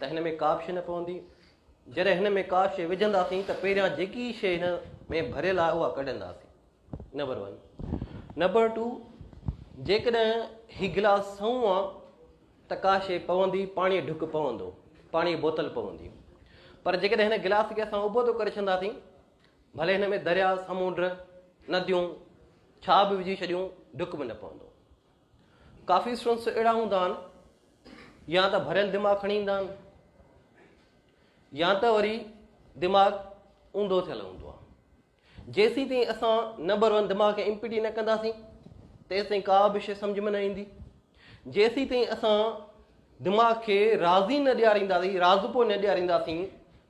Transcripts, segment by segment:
ته هن ۾ ڪا به شيء نه پوندي. جڏهن هن ۾ ڪا شيء وجهنداسين ته پهريان جيڪي شيء هن ۾ ڀريل آهي اها ڪڍنداسين. Number one. نمبر ٽو، جيڪڏهن هي گلاس سنئون آ ته ڪا شيء پوندي، پاڻيء جو ڍڪ پوندو، پاڻيء جي بوتل پوندي. پر جيڪڏهن هن گلاس کي اسان ابوتو ڪري ڇڏنداسين، ڀلي هن ۾ درياء، سمنڊ، نديون، ڇا به وجهي ڇڏيون، ڍڪ به نه پوندو. ڪافي اسٽوڊنٽس اهڙا هوندا آهن يا ته ڀريل دماغ کڻي ايندا آهن يا ته وري دماغ اونڌو ٿيل هوندو آهي جيسي تائين اسان نه برون دماغ کي امپيٽي نه ڪنداسين تيسي تائين ڪا به شيء سمجھ ۾ نه ايندي جيسي تائين اسان دماغ کي راضي نه ڏيارينداسين راضپو نه ڏيارينداسين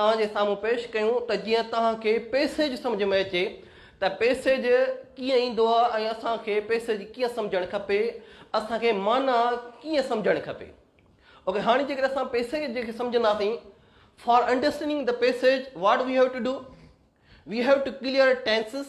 توهان جي سامهون پيش ڪيون ته جيئن توهان کي پئسيج سمجهه ۾ اچي ته پئسيج ڪيئن ايندو آهي ۽ اسان کي پئسيج ڪيئن سمجهڻ کپي، اسان کي معنيٰ ڪيئن سمجهڻ کپي. اوڪي هاڻي جيڪڏهن اسان پئسيج جي کي سمجهنداسين For understanding the passage what we have to do؟ We have to clear tenses.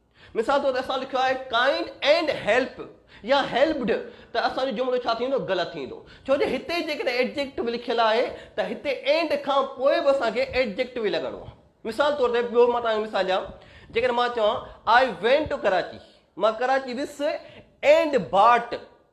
مثال طور تي اسان لکيو آهي Kind and help يا Helped ته اسان جو جملو ڇا ٿيندو غلط ٿيندو ڇو جو هتي جيڪڏهن Adjective لکيل آهي ته هتي and کان پوء به اسان کي Adjective ئي لڳڻو آهي مثال طور تي ٻيو مان توهان کي مثال ڏيان جيڪڏهن مان چوان I went to Karachi مان ڪراچي ويس and bought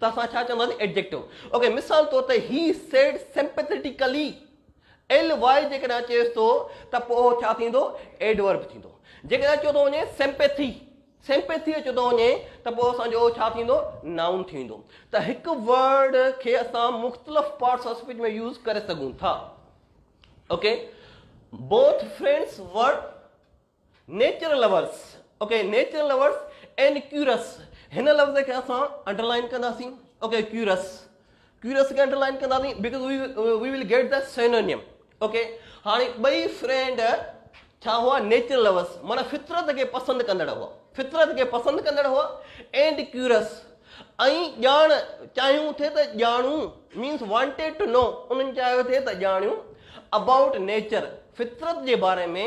ته اسان ڇا چونداسين Adjective اوڪي مثال طور ته He said sympathetically L Y جيڪڏهن چيس ٿو ته پوء اهو ڇا ٿيندو Adverb ٿيندو جيڪڏهن چيو ٿو وڃي Sympathy سيمپيٿي اچو ٿو وڃي ته پوء اسانجو اهو ڇا ٿيندو نائون ٿيندو ته هڪ ورڊ کي اسان مختلف پارٽس آف اسپيچ ۾ يوز ڪري سگھون ٿا okay both friends were nature lovers okay nature lovers and curious هن لفظ کي اسان انڊرلائن ڪنداسين اوڪي ڪيورس ڪيورس کي انڊرلائن ڪنداسين because we will get the synonym okay هاڻي ٻئي فرينڊ ڇا هئا نيچر لورس مانا فطرت کي پسند ڪندڙ هئا فطرت کي پسند ڪندڙ هئا اينڊ ڪيورس ۽ ڄاڻ چاهيون ٿي ته ڄاڻون مينس وانٽيڊ ٽو نو انهن چاهيو ٿي ته ڄاڻيون اباؤٽ نيچر فطرت جي باري ۾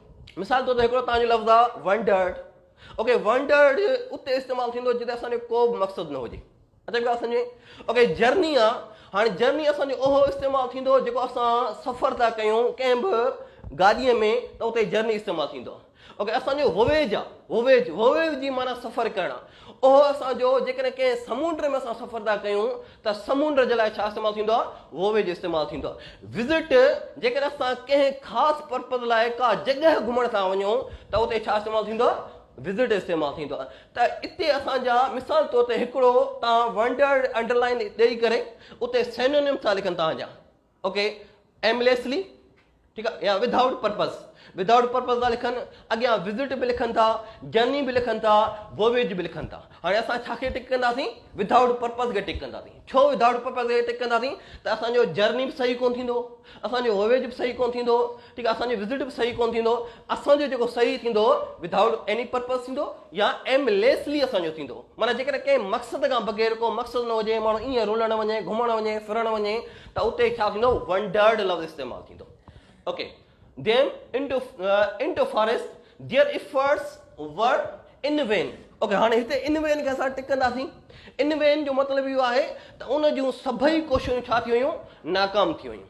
مثال طور تي هڪڙو توهان جو لفظ آ Wondered اوڪي Wondered اتي استعمال ٿيندو جتي اسان جو ڪو به مقصد نه هجي اچي ڳالهه سمجهه اوڪي جرني آ هاڻي جرني اسان جو اهو استعمال ٿيندو جيڪو اسان سفر ٿا ڪيون ڪنهن به گاڏيء ۾ ته اتي جرني استعمال ٿيندو اوڪي اسان جو وويج آ وويج وويج جي معنی سفر ڪرڻ اهو اسان جو جيڪڏهن ڪنهن سمنڊ ۾ اسان سفر ٿا ڪيون ته سمنڊ جي لاء ڇا استعمال ٿيندو آهي؟ وويج استعمال ٿيندو آهي. وزٽ، جيڪڏهن اسان ڪنهن خاص پرپز لاء ڪا جڳهه گهمڻ ٿا وڃون ته اتي ڇا استعمال ٿيندو آهي؟ وزٽ استعمال ٿيندو آهي. ته اتي اسان جا مثال طور تي هڪڙو توهان ونڊرڊ انڊرلائن ڏئي ڪري اتي سينونيم ٿا لکن توهان جا. اوڪي ايمليسلي ٺيڪ آ يا ودائوٽ پرپز ودائوٽ پرپز ٿا لکن اڳيان وزٽ به لکن ٿا جرني به لکن ٿا وويج به لکن ٿا هاڻي اسان ڇا کي ٽڪ ڪنداسين ودائوٽ پرپز کي ٽڪ ڪنداسين ڇو ودائوٽ پرپز کي ٽڪ ڪنداسين ته اسانجو جرني به صحيح ڪون ٿيندو اسانجو وويج به صحيح ڪون ٿيندو ٺيڪ آ اسان جو رزلٽ به صحيح ڪون ٿيندو اسان جو جيڪو صحيح ٿيندو ودائوٽ ايني پرپز ٿيندو يا ايم ليسلي اسان جو ٿيندو معنيٰ جيڪڏهن ڪنهن مقصد کان بغير ڪو مقصد نه هجي ماڻهو ائين رلڻ وڃي گهمڻ وڃي ڦرڻ وڃي ته اتي ڇا ٿيندو ونڊرڊ لفظ استعمال ٿيندو okay them into into forest there efforts were in van okay هاڻي هتي ان وين کي اسان ٽڪنداسين ان وين جو مطلب اهو آهي ته ان جون سڀئي ڪوششون ڇا ٿي ويون ناڪام ٿي ويون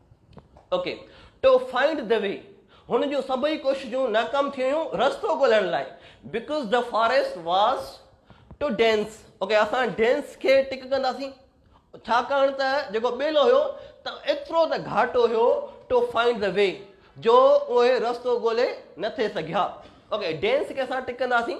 okay to find the way هن جون سڀئي ڪوششون ناڪام ٿي ويون رستو ڳولڻ لاء because the forest was too dense okay اسان ڊينس کي ٽڪ ڪنداسين ڇاڪاڻ ته جيڪو ٻيلو هيو ته ايترو ته گهاٽو هيو ٽو فائنڊ دا وي جو اهي رستو ڳولي نه ٿي سگهيا اوڪي ڊينس کي اسان ٽڪ ڪنداسين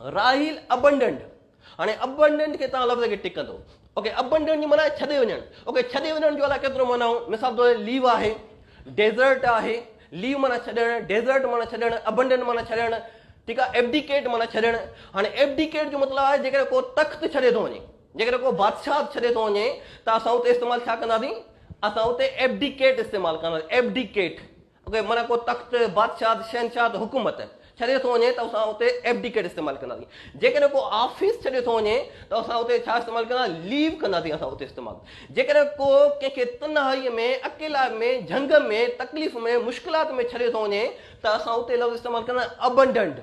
راحيل ابنڊنٽ هاڻي ابنڊنٽ کي تان لفظ کي ٽڪ ڪندو اوڪي ابنڊنٽ جي معنی ڇڏي وڃڻ اوڪي ڇڏي وڃڻ جو الا ڪيترو معنی هو مثال طور ليو آهي ڊيزرٽ آهي ليو معنی ڇڏڻ ڊيزرٽ معنی ڇڏڻ ابنڊنٽ معنی ڇڏڻ ٺيڪ آهي ايبڊيڪيٽ معنی ڇڏڻ هاڻي ايبڊيڪيٽ جو مطلب آهي جيڪڏهن ڪو تخت ڇڏي ٿو وڃي جيڪڏهن ڪو بادشاهت ڇڏي ٿو وڃي ته اسان اتي استعمال ڇا ڪنداسين اسان اتي ايبڊيڪيٽ استعمال ڪنداسين ايبڊيڪيٽ اگهي معنيٰ ڪو تخت، بادشاهت، شهنشاهت، حڪومت، ڇڏي ٿو وڃي ته اسان اتي Abdicate استعمال ڪنداسين. جيڪڏهن ڪو آفيس ڇڏي ٿو وڃي ته اسان اتي ڇا استعمال ڪندا؟ Leave ڪنداسين اسان اتي استعمال. جيڪڏهن ڪو ڪنهن کي تنهائيء ۾، اڪيلائپ ۾، جهنگ ۾، تڪليف ۾، مشڪلات ۾ ڇڏي ٿو وڃي ته اسان اتي لفظ استعمال ڪندا Abandoned.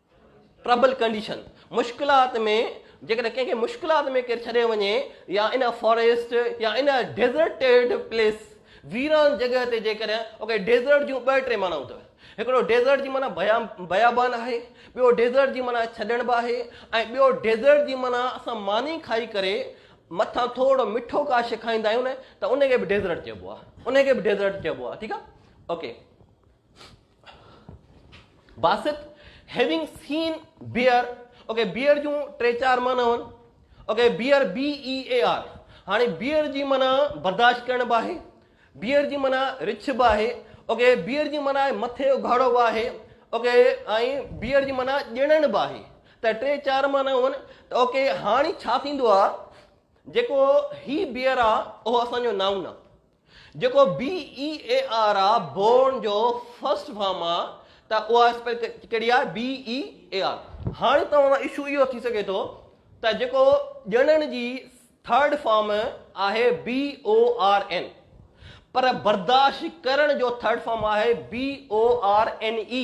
Trouble Condition، مشڪلات ۾، جيڪڏهن ڪنهن کي مشڪلات ۾ ڪير ڇڏي وڃي يا ان فاريسٽ يا ان ڊيزرٽيڊ پليس، ويران جڳهه، تي جيڪڏهن اوڪي ڊيزرٽ جون ٻه ٽي معنائون اٿئي. هڪڙو ڊيزرٽ جي معنيٰ بيابان آهي، ٻيو ڊيزرٽ جي معنيٰ ڇڏڻ به آهي ۽ ٻيو ڊيزرٽ جي معنيٰ اسان ماني کائي ڪري مٿان ٿورڙو مٺو ڪا شي کائيندا آهيون نه ته ان کي به ڊيزرٽ چئبو آهي، ان کي به ڊيزرٽ چئبو آهي ٺيڪ آهي okay. Basit Having seen bear okay bear جون ٽي چار معنيٰ هن okay bear B E A R هاڻي بيئر جي معنيٰ برداشت ڪرڻ به آهي بيئر جي معنيٰ رڇ به آهي اوڪي بيئر جي معنيٰ مٿي اگهاڙو به آهي اوڪي ۽ بيئر جي معنيٰ ڄڻڻ به آهي ته ٽي چار معنيٰ هن ته اوڪي هاڻي ڇا ٿيندو آهي جيڪو هي بيئر آهي اهو اسان جو نائون آهي جيڪو بي اي اي آر آ بورن جو فرسٽ فارم آ ته اها اسپيل ڪهڙي آ بي اي اي آر هاڻي توهان سان اشو اهو ٿي سگهي ٿو ته جيڪو ڄڻن جي ٿرڊ فارم آهي بي او آر اين پر برداشت ڪرڻ جو ٿرڊ فارم آهي B O R N E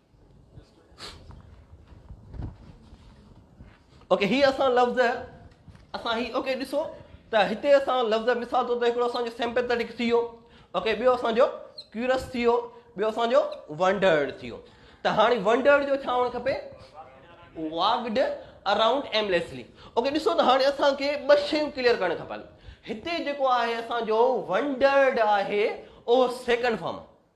okay هي اسان لفظ اسان هي اوڪي ڏسو ته هتي اسان لفظ مثال طور تي هڪڙو اسان جو سيمپيٿيٽڪ ٿي ويو اوڪي ٻيو اسان جو ڪيورس ٿي ويو ٻيو اسان جو ونڊرڊ ٿي ويو ته هاڻي ونڊرڊ جو ڇا هئڻ کپي واگڊ اراؤنڊ ايمليسلي اوڪي ڏسو ته هاڻي اسان کي ٻه شيون ڪليئر ڪرڻ کپن هتي جيڪو آهي اسان جو ونڊرڊ آهي اهو سيڪنڊ فارم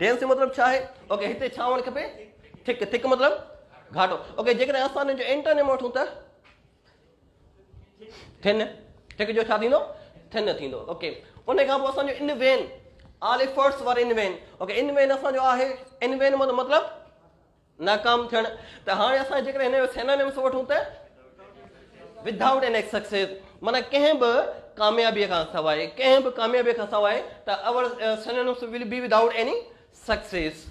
ڊينس جو مطلب ڇا آهي اوڪي هتي ڇا هئڻ کپي ٿڪ ٿڪ مطلب گهاٽو اوڪي جيڪڏهن اسان ان جو انٽرنيم وٺون ته ٿن ٿڪ جو ڇا ٿيندو ٿن ٿيندو اوڪي ان کان پوء اسان جو ان وين آلفرس وار ان وين اوڪي ان وين اسان جو آهي ان وين مطلب ناڪام ٿيڻ ته هاڻي اسان جيڪڏهن هن جو سينانيمس وٺون ته ود آئوٽ اين ايڪ سڪسيس مانا ڪنهن به ڪاميابي کان سواء ڪنهن به ڪاميابي کان سواء ته all synonyms will be without any success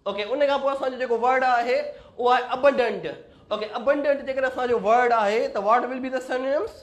okay ان کان پوء اسان جو جيڪو ورڊ آهي اهو آهي ابنڊنٽ اوڪي ابنڊنٽ جيڪڏهن اسان جو ورڊ آهي ته واٽ ول بي دا سينانيمس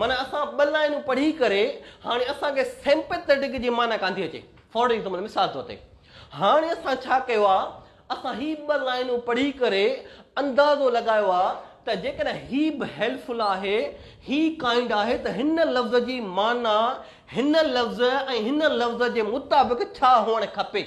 معنيٰ اسان ٻه لائنون پڙهي ڪري هاڻي اسان کي Sympathetic جي معنيٰ ڪانه ٿي اچي. For example، مثال طور تي هاڻي اسان ڇا ڪيو آهي اسان هي ٻه لائنون پڙهي ڪري اندازو لڳايو آهي ته جيڪڏهن هي به Helpful آهي هي Kind آهي ته هن لفظ جي معنيٰ هن لفظ ۽ هن لفظ جي مطابق ڇا هئڻ کپي.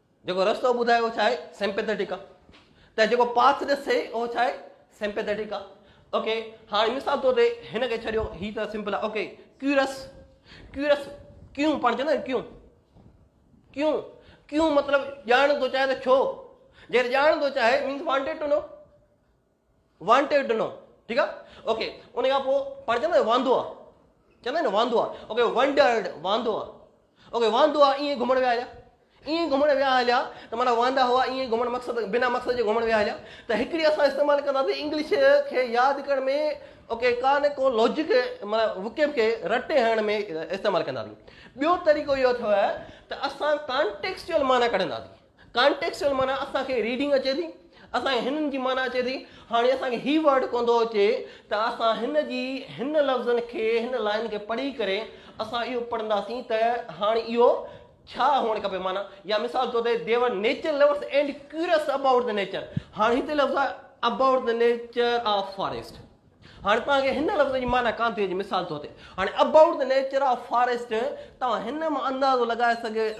جيڪو رستو ٻڌائي اهو ڇا آهي سيمپيٿيٽڪ آهي ته جيڪو پاٿ ڏسي اهو ڇا آهي سيمپيٿيٽڪ آهي اوڪي هاڻي مثال طور تي هن کي ڇڏيو هي ته سمپل آهي اوڪي ڪيورس ڪيورس ڪيون پاڻ چوندا آهيون ڪيون ڪيون ڪيون مطلب ڄاڻ ٿو چاهي ته ڇو جيڪڏهن ڄاڻ ٿو چاهي means wanted to know wanted ڏنو ٺيڪ آ اوڪي ان کان پوء پاڻ چوندو واندو آ چوندو نه واندو آ اوڪي ونڊرڊ واندو آ اوڪي واندو آ ائين گھمڻ ويا هليا ائين گھمڻ ويا هليا ته مانا واندا هئا ائين گھمڻ مقصد بنا مقصد جي گھمڻ ويا هليا ته هڪڙي اسان استعمال ڪنداسي انگلش کي ياد ڪرڻ ۾ اوڪي ڪان ڪو لاجڪ مطلب وڪيب کي رٽي هڻڻ ۾ استعمال ڪنداسي ٻيو طريقو اهو اٿو ته اسان ڪانٽيڪسچل معنيٰ ڪڍنداسي ڪانٽيڪسٽل معنيٰ اسان کي ريڊنگ اچي ٿي اسان کي هنن جي معنيٰ اچي ٿي هاڻي اسان کي هي ورڊ ڪون ٿو اچي ته اسان هن جي هن لفظن کي هن لائن کي پڙهي ڪري اسان اهو پڙهنداسين ته هاڻي اهو ڇا هئڻ کپي معنيٰ يا مثال طور تي they were nature lovers and curious about the nature هاڻي هتي لفظ آهي about the nature of forest هاڻي توهان کي هن لفظ جي معنيٰ ڪانتيء جي مثال طور تي هاڻي About the Nature of Forest توهان هن مان اندازو لڳائي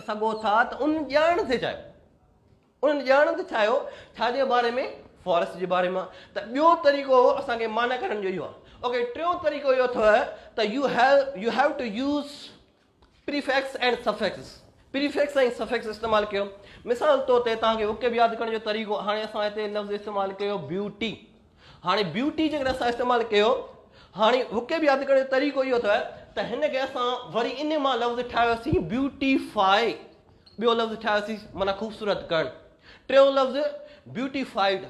سگهو ٿا ته ان ڄاڻڻ ٿي چاهيو ان ڄاڻڻ ٿي چاهيو ڇا جي باري ۾ فاريسٽ جي باري مان ته ٻيو طريقو اسان کي معنيٰ ڪڍڻ جو اهو آهي اوڪي ٽيون طريقو اهو اٿو ته you have you have to use prefix ۽ suffix, Prefix ۽ Suffix، استعمال ڪيو. مثال طور تي توهان کي وڪب ياد ڪرڻ جو طريقو هاڻي اسان هتي لفظ استعمال ڪيو بيوٽي هاڻي بيوٽي جيڪڏهن اسان استعمال ڪيو هاڻي وڪب ياد ڪرڻ جو طريقو اهو اٿئي ته هن کي اسان وري ان مان لفظ ٺاهيوسين بيوٽي فائي ٻيو لفظ ٺاهيوسين معنيٰ خوبصورت ڪرڻ ٽيون لفظ بيوٽي فائيڊ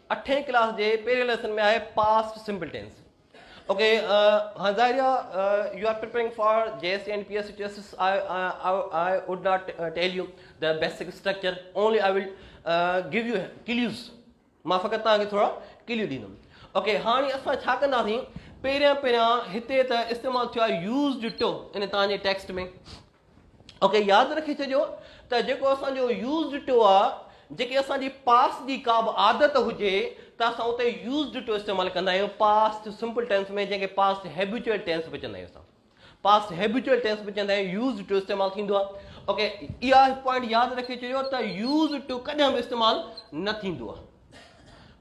اٺين ڪلاس جي پهرين ليسن ۾ آهي پاسٽ سمپل ٽينس اوڪي هاڻ ظاهر آهي you are preparing for G S T and P S T tests I would not tell you the basic structure only I will give you clues مان فقط تان کي ٿورا کليو ڏيندم اوڪي هاڻي اسان ڇا ڪنداسين پهريان پهريان هتي ته استعمال ٿيو آهي يوز ڊٽو ان تان جي ٽيڪسٽ ۾ اوڪي ياد رکي ڇڏيو ته جيڪو اسان جو يوز ڊٽو آ جيڪي اسان جي پاس جي ڪا به عادت هجي ته اسان اتي يوز ڊٽو استعمال ڪندا آهيون پاس سمپل ٽينس ۾ جنهن کي پاس هيبيچوئل ٽينس به چوندا آهيون اسان پاس هيبيچوئل ٽينس به چوندا آهيون يوز ڊٽو استعمال ٿيندو آ اوڪي اها پوائنٽ ياد رکي ڇڏيو ته يوز ڊٽو ڪڏهن به استعمال نه ٿيندو آ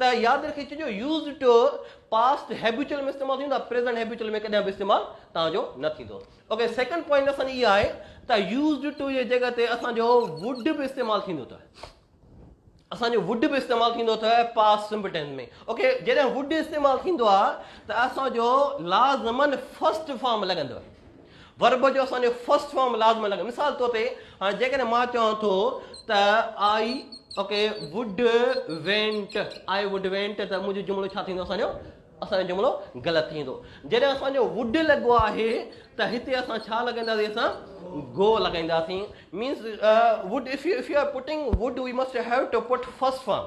ته ياد رکي چجو يوزڊ ٽو پاسٽ هيبيچل ۾ استعمال ٿيندو پريزنٽ هيبيچل ۾ ڪڏهن به استعمال تان جو نه ٿيندو اوڪي سيڪنڊ پوائنٽ اسان جي اها آهي ته يوزڊ ٽو جي جڳهه تي اسان جو وڊ به استعمال ٿيندو ته اسان جو وڊ به استعمال ٿيندو ته پاس سمپل ٽينس ۾ اوڪي جڏهن وڊ استعمال ٿيندو آهي ته اسان جو لازمن فرسٽ فارم لڳندو Verb جو اسان جو First Form لازمن لڳندو مثال طور تي هاڻي جيڪڏهن مان چوان ٿو ته I okay would went I would want ته منهنجو جملو ڇا ٿيندو اسان جو اسان جو جملو غلط ٿيندو جڏهن اسان جو ووڊ لڳو آهي ته هتي اسان ڇا لڳائينداسين اسان گو لڳائينداسين means would if you if you are putting would we must have to put first form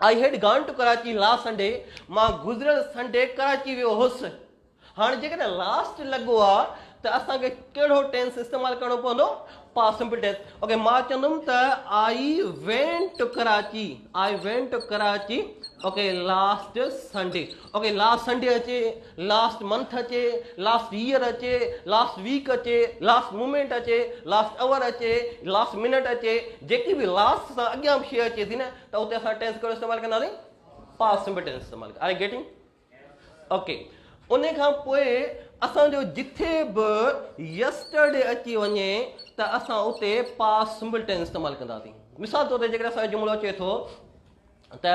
I had gone to Karachi last Sunday مان گذريل سنڊي ڪراچي ويو هوس هاڻي جيڪڏهن لاسٽ لڳو آ ته اسان کي ڪهڙو ٽينس استعمال ڪرڻو پوندو پاس سمپل ٽينس اوڪي مان چوندم ته I went to Karachi I went to Karachi okay last Sunday okay last Sunday اچي، لاسٽ منٿ اچي، لاسٽ ييئر اچي، لاسٽ ويڪ اچي، لاسٽ مومينٽ اچي، لاسٽ اور اچي، لاسٽ منٽ اچي، جيڪي به لاسٽ سان اڳيان به شيء اچي ٿي نه ته اتي اسان ٽينس ڪهڙو استعمال ڪنداسين؟ پاسٽ سمپل ٽينس استعمال ڪنداسين. Are you getting? اوڪي ان کان پوء اسان جو جتي به يسٽرڊي اچي وڃي ته اسان اتي پاسٽ سمپل ٽينس استعمال ڪنداسين. مثال طور تي جيڪڏهن اسان جو جملو اچي ٿو ته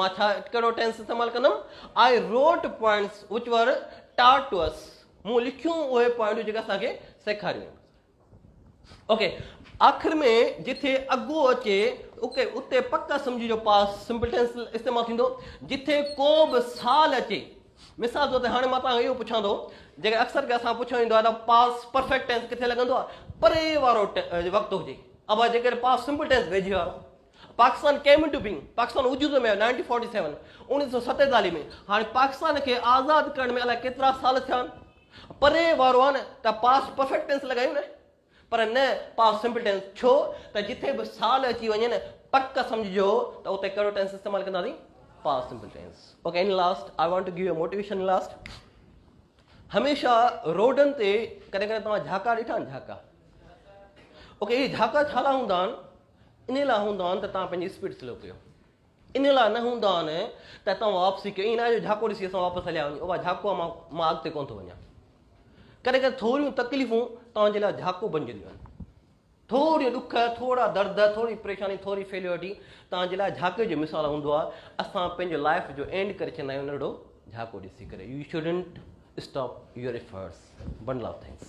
مان ڇا ڪهڙو ٽينس استعمال ڪندم آء روٽ پوائنٽس وچ ور ٽاٽ ٽو اس مون لکيون اهي پوائنٽون جيڪي اسان کي سيکاريون اوڪي آخر ۾ جتي اگو اچي اوڪي اتي پڪ سمجهي جو پاس سمپل ٽينس استعمال ٿيندو جتي ڪو به سال اچي مثال طور تي هاڻي مان تان اهو پڇان ٿو جيڪي اڪثر کي اسان پڇيو ويندو آهي پاس پرفيڪٽ ٽينس ڪٿي لڳندو آهي پري وارو وقت هجي اما جيڪڏهن پاس سمپل ٽينس ويجهي وارو Pakistan came in to being, Pakistan وجود ۾ آيو نائنٽين فورٽي سيون، اوڻيھ سؤ ستيتاليھ، ۾ ھاڻي پاڪستان کي آزاد ڪرڻ ۾ الائي ڪيترا سال ٿيا آھن. پري وارو آھي نه ته پاسٽ پرفيڪٽ ٽينس لڳايون نه پر نه پاسٽ سمپل ٽينس ڇو ته جتي به سال اچي وڃي نه پڪ سمجهجو ته اتي ڪهڙو ٽينس استعمال ڪنداسين past simple tense okay in last I want to give you motivation in last هميشه روڊن تي ڪڏهن ڪڏهن توهان جھاڪا ڏٺا آهن جھاڪا اوڪي هي جھاڪا ڇالا هوندا آهن انهيء لاء هوندو آهن ته توهان پنهنجي اسپيڊ سلو ڪيو. انهيء لاء نه هوندو آهن ته توهان واپسي ڪيو. ائين ناهي جو جهاڪو ڏسي اسان واپس هليا وڃون. اها جهاڪو آهي، مان مان اڳتي ڪونه ٿو وڃان. ڪڏهن ڪڏهن ٿوريون تڪليفون توهان جي لاء جهاڪو بنجنديون آهن. ٿوريون ڏک، ٿورا درد، ٿوري پريشاني، ٿوري فيليورٽي توهان جي لاء جهاڪي جو مثال هوندو آهي. اسان پنهنجو لائيف جو اينڊ ڪري ڇڏيندا آهيون ننڍڙو جهاڪو ڏسي ڪري. You shouldn't stop your efforts. Bundle of thanks.